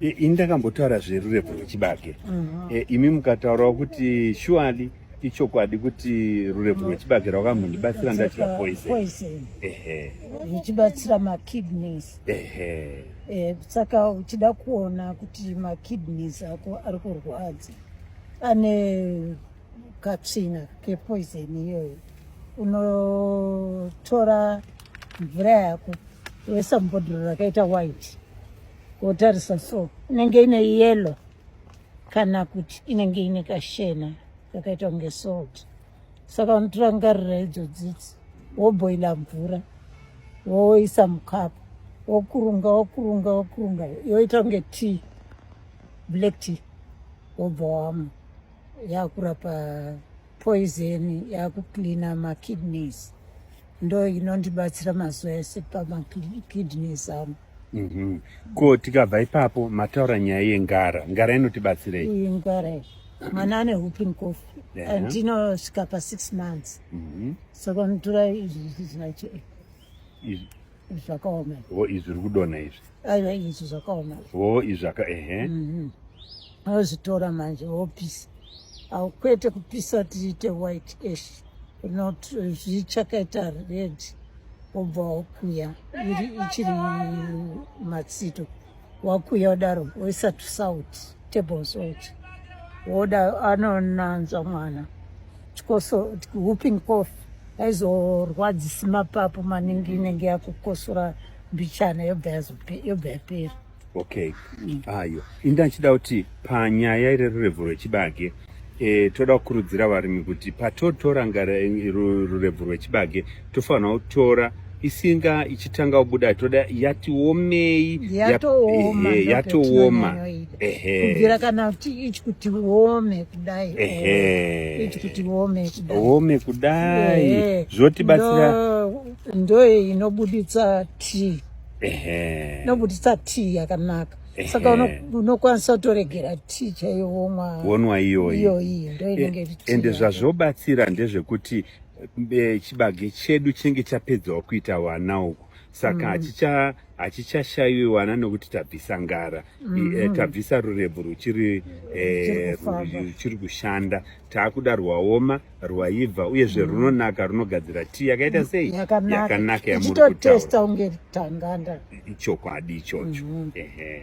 Eh, ini ndakambotaura zverurepo rwechibage mhm. eh, imi mukataurawo kuti shuali ichokwadi kuti rurepo rwechibage rwakamhondibatsira ndachira poison ehe zvichibatsira makidneys ehe eh, saka uchida kuona kuti makidneys ako ari kurwadza ane katsvina kepoison iyoyo unotora mvura yako woisa mubhodhoro rakaita white wotarisa so inenge ine yellow kana kuti inenge ine kashena kakaita kunge salt saka unotora ngarira idzo dzidzi woboila mvura woisa mukapu wokurunga wokurunga wokurunga yoita kunge tea black tea wobva wamwa yakurapa poison yakucleana makidneys ndo inondibatsira mazuva ese pamakidneys angu mm -hmm. ko tikabva ipapo mataura nyaya yengara ngara inotibatsirei iyi ngara iyi mwana ane whooping cough yeah. and inosvika pa six months mm -hmm. saka mutura izvi zvizacho izvi zvakaoma ho izvi zviri kudonha izvi aiwa izvi zvakaoma ho izvi zvaka ehe mm -hmm. Vozvitora manje vopisa. Au kwete kupisa tiite white ash. Not zvichakaita red. Obva wakuya ichiri matsito. Wakuya udaro woisa to salt, table salt. Woda anonanzva mwana. Chikoso whooping cough aizorwadzisi mapapu maningi inenge yakukosora mbichana yobva yapera. Okay. Mm. Ayo. Inda chida kuti panyaya ire rurevo rwechibage e, toda kukurudzira varimi kuti patotora ngara eh, rurevo rwechibage tofanira kutora isinga ichitanga kubuda toda yatiomei yatooma yap, eh, yatooma kubvira kana ichi kuti uome kudai ichi kuti uome kudai uome kudai zvotibatsira ndoye inobuditsa tii nobudisa tii yakanaka saka unokwanisa kutoregera tii chaiyo womwa wonwa iyoyi iyoyi ndo inenge iri tea ende zvazvobatsira ndezvekuti eh, chibage chedu chinenge chapedzawo kuita wana uku saka hachicha hachichashaiwi wana nokuti tabvisa ngara mm -hmm. tabvisa rurebvu ruchiri eh, ruchiri kushanda taakuda rwaoma rwaibva uyezve mm. runonaka runogadzira tii yakaita mm, sei yakanaka yamurikutotesta unge tanganda ichokwadi ichocho mm -hmm.